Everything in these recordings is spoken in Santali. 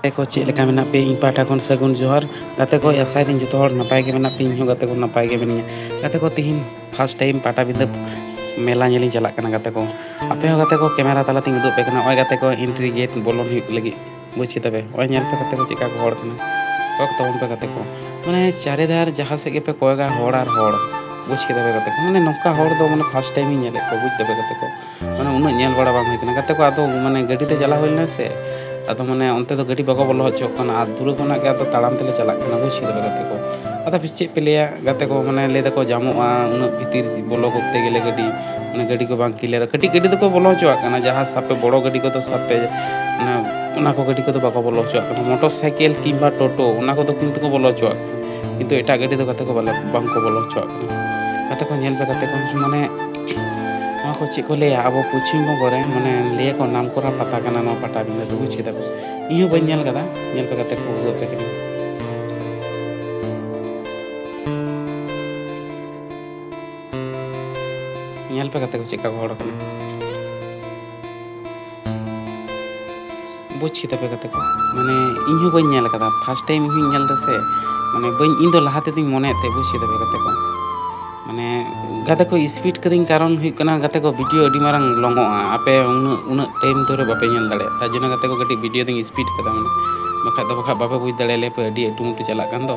ᱜᱟᱛᱮ ᱠᱚ ᱪᱮᱫ ᱞᱮᱠᱟ ᱢᱮᱱᱟᱜ ᱯᱮᱭᱟ ᱤᱧ ᱯᱟᱦᱴᱟ ᱠᱷᱚᱱ ᱥᱟᱹᱜᱩᱱ ᱡᱚᱦᱟᱨ ᱜᱟᱛᱮ ᱠᱚ ᱟᱥᱟᱭ ᱫᱟᱹᱧ ᱡᱚᱛᱚ ᱦᱚᱲ ᱱᱟᱯᱟᱭ ᱜᱮ ᱢᱮᱱᱟᱜ ᱯᱮᱭᱟ ᱤᱧ ᱦᱚᱸ ᱜᱟᱛᱮ ᱠᱚ ᱱᱟᱯᱟᱭ ᱜᱮ ᱢᱤᱱᱟᱹᱧᱟ ᱜᱟᱛᱮ ᱠᱚ ᱛᱤᱦᱤᱧ ᱯᱷᱟᱥᱴ ᱴᱟᱭᱤᱢ ᱯᱟᱴᱟᱵᱤᱸᱫᱟᱹ ᱢᱮᱞᱟ ᱧᱮᱞᱤᱧ ᱪᱟᱞᱟᱜ ᱠᱟᱱᱟ ᱜᱟᱛᱮ ᱠᱚ ᱟᱯᱮ ᱦᱚᱸ ᱜᱟᱛᱮ ᱠᱚ ᱠᱮᱢᱮᱨᱟ ᱛᱟᱞᱟᱛᱤᱧ ᱩᱫᱩᱜ ᱯᱮ ᱠᱟᱱᱟ ᱱᱚᱜᱼᱚᱭ ᱜᱟᱛᱮ ᱠᱚ ᱮᱱᱴᱨᱤ ᱜᱮᱴ ᱵᱚᱞᱚᱱ ᱦᱩᱭᱩᱜ ᱞᱟᱹᱜᱤᱫ ᱵᱩᱡᱽ ᱠᱮᱫᱟ ᱯᱮ ᱱᱚᱜᱼᱚᱭ ᱧᱮᱞ ᱯᱮ ᱜᱟᱛᱮ ᱠᱚ ᱪᱮᱫᱠᱟ ᱠᱚ ᱦᱚᱲ ᱠᱟᱱᱟ ᱠᱚᱭᱚᱜ ᱛᱟᱵᱚᱱ ᱯᱮ ᱜᱟᱛᱮ ᱠᱚ ᱢᱟᱱᱮ ᱪᱟᱨᱮ ᱫᱷᱟᱨ ᱡᱟᱦᱟᱸ ᱥᱮᱫ ᱜᱮᱯᱮ ᱠᱚᱭᱚᱜᱟ ᱦᱚᱲ ᱟᱨ ᱦᱚᱲ ᱵᱩᱡᱽ ᱠᱮᱫᱟ ᱯᱮ ᱜᱟᱛᱮ ᱠᱚ ᱢᱟᱱᱮ ᱱᱚᱝᱠᱟ ᱦᱚᱲ ᱫᱚ ᱢᱟᱱᱮ ᱯᱷᱟᱥᱴ ᱴᱟᱭᱤᱢ ᱤᱧ ᱧᱮᱞᱮᱫ ᱠᱚᱣᱟ ᱵᱩᱡᱽ ᱫᱟᱯᱮ ᱜᱟᱛᱮ ᱠᱚ ᱢᱟᱱᱮ ᱩᱱᱟᱹᱜ ᱧᱮᱞ ᱵᱟᱲᱟ ᱵᱟᱝ ᱦᱩᱭ ᱠᱟᱱᱟ ᱜᱟᱛᱮ ᱠᱚ ᱟᱫᱚ ᱢᱟᱱᱮ ᱜᱟᱹᱰᱤ ᱛᱮ ᱪᱟᱞᱟᱣ ᱦᱩᱭ ᱞᱮᱱᱟ ᱥᱮ ᱟᱫᱚ ᱢᱟᱱᱮ ᱚᱱᱛᱮ ᱫᱚ ᱜᱟᱹᱰᱤ ᱵᱟᱠᱚ ᱵᱚᱞᱚ ᱦᱚᱪᱚᱜ ᱠᱟᱱᱟ ᱟᱨ ᱫᱩᱨᱮ ᱠᱷᱚᱱᱟᱜ ᱜᱮ ᱟᱫᱚ ᱛᱟᱲᱟᱢ ᱛᱮᱞᱮ ᱪᱟᱞᱟᱜ ᱠᱟᱱᱟ ᱵᱩᱡᱽ ᱠᱮᱫᱟ ᱯᱮ ᱜᱟᱛᱮ ᱠᱚ ᱟᱫᱚ ᱪᱮᱫ ᱯᱮ ᱞᱟᱹᱭᱟ ᱜᱟᱛᱮ ᱠᱚ ᱢᱟᱱᱮ ᱞᱟᱹᱭ ᱫᱟᱠᱚ ᱡᱟᱢᱚᱜᱼᱟ ᱩᱱᱟᱹᱜ ᱵᱷᱤᱛᱤᱨ ᱵᱚᱞᱚ ᱠᱚᱨᱛᱮ ᱜᱮᱞᱮ ᱜᱟᱹᱰᱤ ᱢᱟᱱᱮ ᱜᱟᱹᱰᱤ ᱠᱚ ᱵᱟᱝ ᱠᱞᱤᱭᱟᱨᱟ ᱠᱟᱹᱴᱤᱡ ᱜᱟᱹᱰᱤ ᱫᱚᱠᱚ ᱵᱚᱞᱚ ᱦᱚᱪᱚᱣᱟᱜ ᱠᱟᱱᱟ ᱡᱟᱦᱟᱸ ᱥᱟᱯᱮ ᱵᱚᱲᱚ ᱜᱟᱹᱰᱤ ᱠᱚᱫᱚ ᱥᱟᱯᱮ ᱢᱟᱱᱮ ᱚᱱᱟ ᱠᱚ ᱜᱟᱹᱰᱤ ᱠᱚᱫᱚ ᱵᱟᱠᱚ ᱵᱚᱞᱚ ᱦᱚᱪᱚᱣᱟᱜ ᱠᱟᱱᱟ ᱢᱚᱴᱚᱨ ᱥᱟᱭᱠᱮᱞ ᱠᱤᱝᱵᱟ ᱴᱳᱴᱳ ᱚᱱᱟ ᱠᱚᱫᱚ ᱠᱤᱱᱛᱩ ᱠᱚ ᱵᱚᱞᱚ ᱦᱚᱪᱚᱣᱟᱜ ᱠᱟᱱᱟ ᱠᱤᱱᱛᱩ ᱮᱴᱟᱜ ᱜᱟᱹᱰᱤ ᱫᱚ ᱜᱟᱛᱮ ᱠᱚ ᱵᱟᱞᱮ ᱵᱟᱝ ᱠᱚ ᱵᱚᱞᱚ ᱦᱚᱪᱚᱣᱟᱜ ᱠᱟᱱᱟ ᱜᱟᱛᱮ ᱠᱚ ᱧᱮᱞ ᱯᱮ ᱜᱟᱛᱮ ᱠᱚ ᱢᱟᱱᱮ ᱱᱚᱣᱟ ᱠᱚ ᱪᱮᱫ ᱠᱚ ᱞᱟᱹᱭᱟ ᱟᱵᱚ ᱯᱚᱪᱷᱤᱢ ᱵᱚᱝᱜᱚ ᱨᱮ ᱢᱟᱱᱮ ᱞᱟᱹᱭᱟᱠᱚ ᱱᱟᱢ ᱠᱚᱨᱟ ᱯᱟᱛᱟ ᱠᱟᱱᱟ ᱱᱚᱣᱟ ᱯᱟᱴᱟᱵᱤᱸᱫᱟᱹ ᱫᱚ ᱵᱩᱡᱽ ᱠᱮᱫᱟ ᱤᱧ ᱦᱚᱸ ᱵᱟᱹᱧ ᱧᱮᱞ ᱠᱟᱫᱟ ᱧᱮᱞ ᱠᱟᱛᱮ ᱠᱟᱛᱮ ᱠᱚ ᱩᱫᱩᱜ ᱟᱯᱮ ᱠᱟᱹᱱᱟᱹᱧ ᱧᱮᱞ ᱯᱮ ᱠᱟᱛᱮ ᱠᱚ ᱪᱮᱫᱠᱟ ᱠᱚ ᱦᱚᱲ ᱠᱟᱱᱟ ᱵᱩᱡᱽ ᱠᱮᱫᱟ ᱯᱮ ᱠᱟᱛᱮ ᱠᱚ ᱢᱟᱱᱮ ᱤᱧ ᱦᱚᱸ ᱵᱟᱹᱧ ᱧᱮᱞ ᱟᱠᱟᱫᱟ ᱯᱷᱟᱥᱴ ᱴᱟᱭᱤᱢ ᱤᱧ ᱦᱚᱸᱧ ᱧᱮᱞ ᱮᱫᱟ ᱥᱮ ᱢᱟᱱᱮ ᱵᱟᱹᱧ ᱤᱧ ᱫᱚ ᱞᱟᱦᱟ ᱛᱮᱫᱚᱧ ᱢᱚᱱᱮᱭᱮᱫ ᱛᱟᱦᱮᱸᱫ ᱵᱩᱡᱽ ᱠᱮᱫᱟ ᱯᱮ ᱠᱟᱛᱮ ᱠᱚ ᱢᱟᱱᱮ ᱜᱟᱛᱮ ᱠᱚ ᱥᱯᱤᱰ ᱠᱟᱹᱫᱟᱹᱧ ᱠᱟᱨᱚᱱ ᱦᱩᱭᱩᱜ ᱠᱟᱱᱟ ᱜᱟᱛᱮ ᱠᱚ ᱵᱷᱤᱰᱤᱭᱳ ᱟᱹᱰᱤ ᱢᱟᱨᱟᱝ ᱞᱚᱝᱚᱜᱼᱟ ᱟᱯᱮ ᱩᱱᱟᱹᱜ ᱩᱱᱟᱹᱜ ᱴᱟᱭᱤᱢ ᱫᱷᱚᱨᱮ ᱵᱟᱯᱮ ᱧᱮᱞ ᱫᱟᱲᱮᱭᱟᱜ ᱛᱟᱨ ᱡᱚᱱᱱᱚ ᱜᱟᱛᱮ ᱠᱚ ᱠᱟᱹᱴᱤᱡ ᱵᱷᱤᱰᱤᱭᱳ ᱫᱚᱧ ᱥᱯᱤᱰ ᱠᱟᱫᱟ ᱢᱟᱱᱮ ᱵᱟᱠᱷᱟᱡ ᱫᱚ ᱵᱟᱠᱷᱟᱡ ᱵᱟᱯᱮ ᱵᱩᱡᱽ ᱫᱟᱲᱮᱭᱟᱞᱮᱭᱟ ᱯᱮ ᱟᱹᱰᱤ ᱟᱹᱴᱩᱢᱟᱹᱴᱩ ᱪᱟᱞᱟᱜ ᱠᱟᱱ ᱫᱚ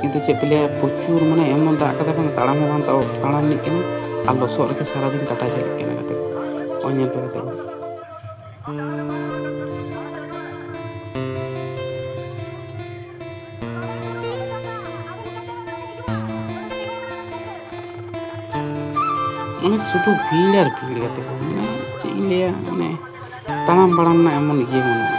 ᱠᱤᱱᱛᱩ ᱪᱮᱫ ᱯᱮ ᱞᱟᱹᱭᱟ ᱯᱨᱚᱪᱩᱨ ᱢᱟᱱᱮ ᱮᱢᱚᱱ ᱫᱟᱜ ᱠᱟᱫᱟ ᱵᱟᱝ ᱛᱟᱲᱟᱢ ᱦᱚᱸ ᱵᱟᱝ ᱛᱟᱲᱟᱢ ᱞᱤᱜ ᱠᱟᱱᱟ ᱟᱨ ᱞᱚᱥᱚᱫ ᱨᱮᱜᱮ ᱥᱟᱨᱟᱫᱤᱱ ᱠᱟᱴᱟ ᱪᱟᱞᱟᱜ ᱠᱟᱱᱟ ᱜᱟᱛᱮ ᱠᱚ ᱱᱚᱜᱼᱚᱭ ᱧᱮᱞ ᱯᱮ ᱜᱟᱛᱮ ᱠᱚ ᱢᱟᱱᱮ ᱥᱩᱫᱷᱩ ᱵᱷᱤᱲ ᱟᱨ ᱵᱷᱤᱲ ᱜᱟᱛᱮ ᱠᱚ ᱢᱟᱱᱮ ᱪᱮᱫ ᱤᱧ ᱞᱟᱹᱭᱟ ᱢᱟᱱᱮ ᱛᱟᱲᱟᱢ ᱵᱟᱲᱟᱢ ᱨᱮᱱᱟᱜ ᱮᱢᱚᱱ ᱤᱭᱟᱹ ᱵᱟᱹᱱᱩᱜᱼᱟ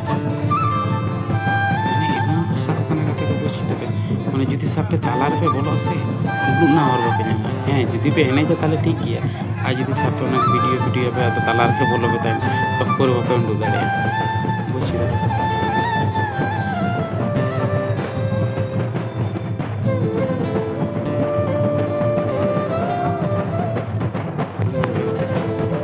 ᱢᱟᱱᱮ ᱡᱩᱫᱤ ᱥᱟᱵ ᱯᱮ ᱛᱟᱞᱟ ᱨᱮᱯᱮ ᱵᱚᱞᱚᱜᱼᱟ ᱥᱮ ᱩᱫᱩᱜ ᱨᱮᱱᱟᱜ ᱦᱚᱨ ᱵᱟᱯᱮ ᱧᱟᱢᱟ ᱦᱮᱸ ᱡᱩᱫᱤ ᱯᱮ ᱮᱱᱮᱡᱟ ᱛᱟᱦᱚᱞᱮ ᱴᱷᱤᱠ ᱜᱮᱭᱟ ᱟᱨ ᱡᱩᱫᱤ ᱥᱟᱵ ᱯᱮ ᱚᱱᱟ ᱵᱷᱤᱰᱤᱭᱳ ᱵᱷᱤᱰᱤᱭᱳ ᱯᱮ ᱟᱫᱚ ᱛᱟᱞᱟ ᱨᱮᱯᱮ ᱵᱚᱞᱚ ᱯᱮ ᱛᱟᱭᱚᱢ ᱛᱚᱠᱠᱚᱨ ᱵᱟᱯᱮ ᱩᱰᱩᱠ ᱫᱟᱲᱮᱭᱟᱜᱼᱟ ᱵᱩᱡᱽ ᱠᱮᱫᱟ